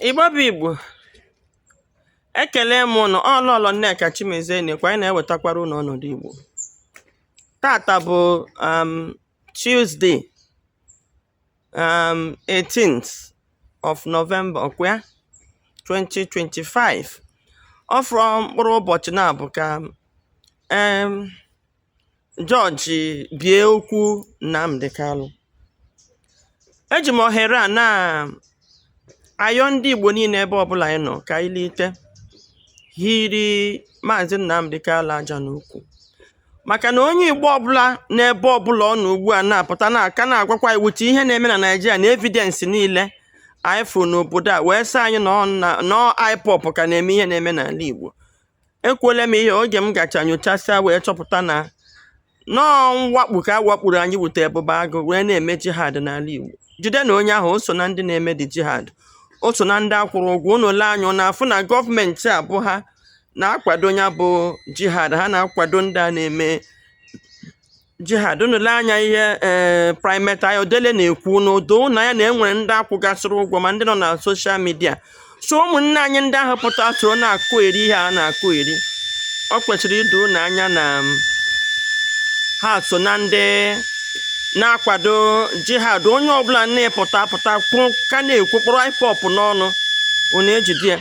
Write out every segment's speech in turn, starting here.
Igbo bụ Igbo ekele m ụnụ ọ Lọlọ Nneka Chimezie nekwa anyị na-ewetakwara ụnụ ọnọdụ Igbo tata bụ um, Tuesday um, 18th of November ọkwa ya 2025 ọ fọrọ mkpụrụ ụbọchị naabọ ka um, Jọọjị bie okwu Nnamdi Kalụ. Eji m ohere a na-ayọ ndị Igbo niile ebe ọbụla anyị nọ ka anyị lite hiri Maazị Nnamdi Kalụ aja n'ukwu maka na onye Igbo ọbụla n'ebe ọbụla ọ nọ ugbu a na-apụta na a ka na-agwakwa iwu ti ihe na-eme na Naịjirịa na evidence niile anyị fụrụ n'obodo a wee sị anyị na ọ na na ọ IPOB ka na-eme ihe na-eme n'ala Igbo ekwuole m ihe oge m gacha nyochasịa wee chọpụta na na ọ mwakpu ka a wakpuru anyị wute Ebube Agụ wee na-eme jihad n'ala Igbo jide na onye ahụ o so na ndị na-eme the jihad o so na ndị a kwụrụ ụgwọ unu lee anya na-afụ na gọọmenti a bụ ha na-akwado ya bụ jihad ha na-akwado ndị a na-eme jihad unu lee anya ihe ee Primate Ayodele na-ekwu na o do unu anya na e nwere ndị a kwụgasịrị ụgwọ ma ndị nọ na social media so ụmụnne anyị ndị ahụ pụta soro na-akọyeri ihe a na-akọyeri o kwesịrị ido unu anya na um, ha so na ndị na-akwado jihad onye ọbụla na-epụta pụta kwụ ka na-ekwu kpọrọ IPOB n'ọnụ unu ejide ya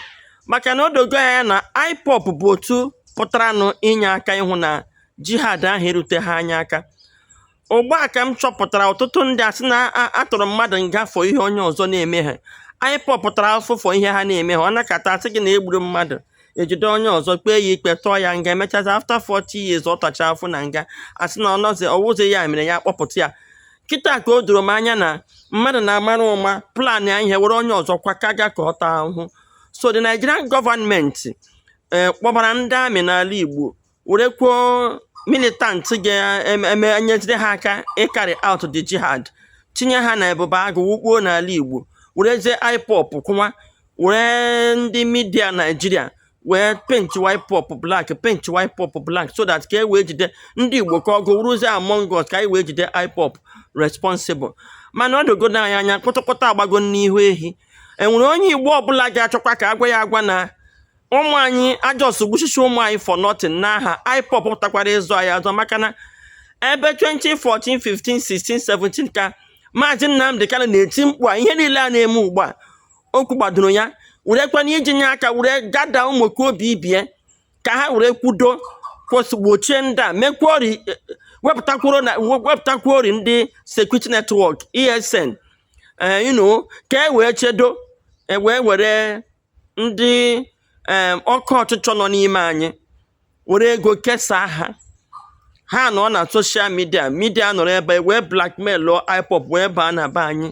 maka na o dogo anya na IPOB bụ otu pụtaranụ inye aka ịhụ na jihad ahụ eruteha anyị aka ugbu a ka m chọpụtara ọtụtụ ndị a sị na a tụrụ mmadụ nga for ihe onye ọzọ na-eme ha IPOB tara afụfụ for ihe ha na-emeha a nọkata a sị gị na e gburu mmadụ e jide onye ọzọ kpee ya ikpe tụọ ya nga e mechazi after 40 years ọ tacha afụfụ na nga a sị na ọ nọzi ọ wụzi ya mere ya kpọpụta ya kịta ka o doro m anya na mmadụ na-amara ụma planịa ihe were onye ọzọ kwa ka ga ka ọ taa ahụhụ so the Nigerian gọọmenti eh, kpọbara ndị army n'ala Igbo werekwuo militant ga-enyeziri ha aka ịcarry out the jihad tinye ha na Ebube Agụ wukpuo n'ala Igbo werezie IPOB kwụwa were ndị media Naijiria wee paint IPOB black paint IPOB black so that ka e wee jide ndị Igbo ka ọgụ wụrụzie among us ka anyị wee jide IPOB responsible mana o dogo anyị anya kpụtụkpụta agbago n'ihu ehi enwere onye Igbo ọbụla ga-achọkwa ka a gwa ya agwa na ụmụ anyị a just gbushishi ụmụ anyị for nothing n'aha IPOB pụtakwara ịzọ anyị azọ maka na ebe 2014 15 16 17 ka maazị Nnamdi Kanu na-eti mkpu a ihe niile a na-eme ugbu a o kwugbadoro ya werekwana iji nye aka were gather ụmụ okorobịa ibe ya ka ha were kwudo kwụsị gbochie ndị a mekwuo wepụtakwuori ndị security network ESN eh, you know ka e wee chedo e wee were ndị em oke ọchịchọ nọ n'ime anyị were ego kesaa ha ha nọ na soshal midia midia nọrọ ebe anyị wee blackmailụọ IPOB wee baa na be anyị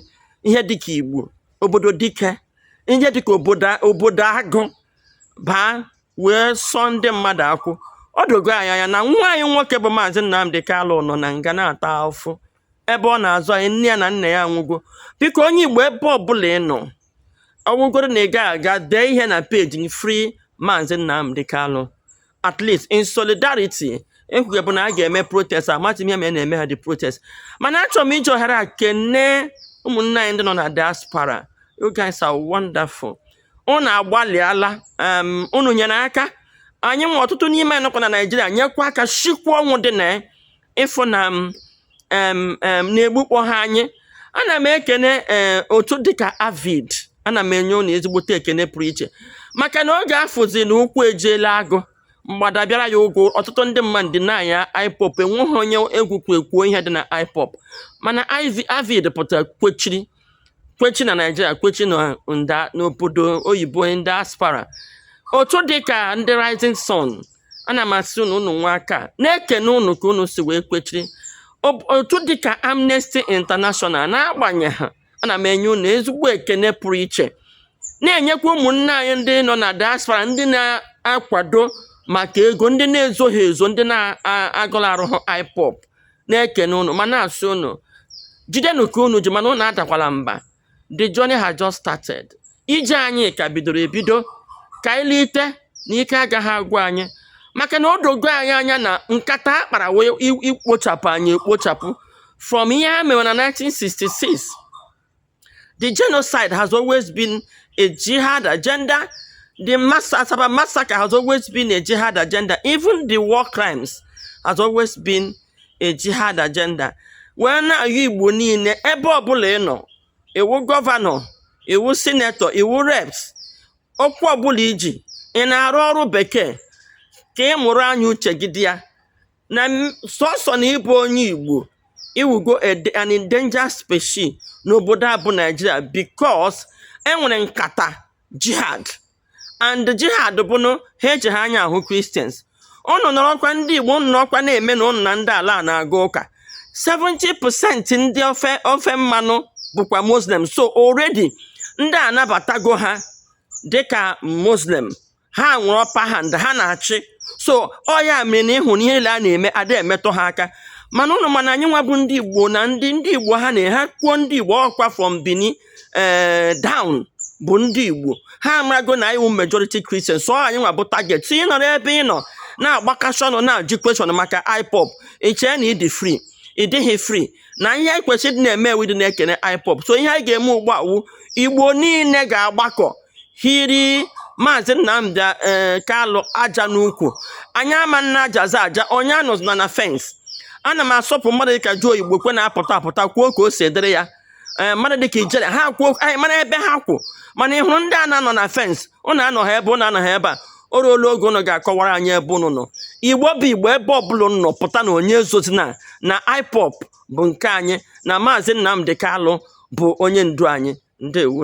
ihe dịka igbo obodo dike ihe dịka obodo obodo agụ baa wee sụọ ndị mmadụ akwụ o dogo anyị anya na nwa anyị nwoke bụ maazị nnamdị kalụ nọ na nga na-ata afụfụ ebe ọ na-azọ anyị nne ya na nna ya anwụgo biko onye igbo ebe ọbụla ị nọ ọ bụrụgodu na ị gaghị aga dee ihe na peji free Maazị Nnamdi Kanu at least in solidarity e kwugobu na a ga-eme protest amaghị m ihe mere na emeha the protest mana achọrọ m iji ohere a kene ụmụnne anyị ndị nọ na diaspora you guys are wonderful unu agbalịala um, unu nyere aka anyị nwe ọtụtụ n'ime anyị nọkwa na naijiria nyekwa aka shikwa ọnwụ dị na ịfụ na m em em na egbukpọha anyị ana m ekene ee otu dịka avid ana m enye unu ezigbote ekene pụrụ iche maka na oge a fụzi na ụkwụ ejiela agụ mgbada bịara ya ụgwọ ọtụtụ ndị mmadụ denyịa IPOB enweghị onye egwu kwe kwuo ihe dị na IPOB mana avid pụtara kwechiri kwechi na naijiria kwechi na nda n'obodo oyibo na diaspora otu dị ka ndị rising sun ana m asị unu unu anwaka na-ekene unu ka unu si wee kwechiri Ob- otu dị ka amnesty international n'agbanyeghị ana m enye unu ezigbo ekene pụrụ iche na-enyekwa ụmụnne anyị ndị nọ na diaspora ndị na-akwado maka ego ndị na-ezoghị ezo ndị na-agọlarụhụ IPOB na-ekene unu ma na-asị unu jidenụ ka unu ji mana unu adakwala mba the journey has just started ije anyị ka bidoro ebido ka anyị lote na ike agaghị agwụ anyị maka na o dogo anyị anya na nkata a kpara wee i- ikpochapụ anyị ekpochapụ from ihe ha mere na 1966 The genocide has always been a jihad agenda. The mass- Asaba massacre has always been a jihad agenda. Even the war crimes has always been a jihad agenda. Wee na-ayọ Igbo niile ebe ọbụla ị nọ, ị wụ gọvanọ, ị wụ sinetọ, ị wụ reps, ọkwa ọbụla i ji, ị na-arụ ọrụ bekee ka ị mụrụ anya uche gị dị ya. na sọsọ na ịbụ onye Igbo ị wụgo an endangered species n'obodo a bụ Naijiria because enwere nkata jihad and jihad bụnụ ha ejigha anya ahụ Christians ụnụ nọrọkwa ndị Igbo ụnụ nọrọkwa na-eme na ụnụ na ndị ala na-aga ụka 70% ndị ofe mmanụ bụkwa Muslim so already ndị a anabatago ha dịka Muslim ha nwere upper hand ha na-achị so ọ ya mere na ị hụrụ ihe niile a na-eme ada emetụ ha aka mana ụnụ mana anyị nwa bụ ndị igbo na ndị ndị igbo ha na ha kwuo ndị igbo ọkwa from bini ee eh, down bụ ndị igbo ha amago na anyị wụ majority Christian so anyị nwa bụ target so ị nọrọ ebe ị nọ na-agbakasị ọnụ na-ajụ question maka IPOB i chee na ị dị free ị dịghị free na ihe anyị kwesịrị ịdị na-eme wụ ịdị na-ekene IPOB so ihe anyị ga-eme ugbu a wụ igbo niile ga-agbakọ hiri maazị Nnamdi eh, Kalụ aja n'ukwu anyị ama na-ajazi aja onye anọzina na fence ana m asọpụ mmadụ dịka Joe Igbokwe na-apụta apụta kwuo ka o si dịrị ya Eh, mmadụ dịka Ijele ha kwuo anyị mara ebe ha kwụ mana ị hụrụ ndị a na-anọ na fence ụnụ anọgha ebe ụnụ anọgha ebe a o ruola oge ụnụ ga-akọwara anyị ebe ụnụ nọ igbo bụ igbo ebe ọbụla ụnụ nọ pụta na onye ezozina na IPOB bụ nke anyị na maazị Nnamdi kalụ bụ onye ndu anyị ndewo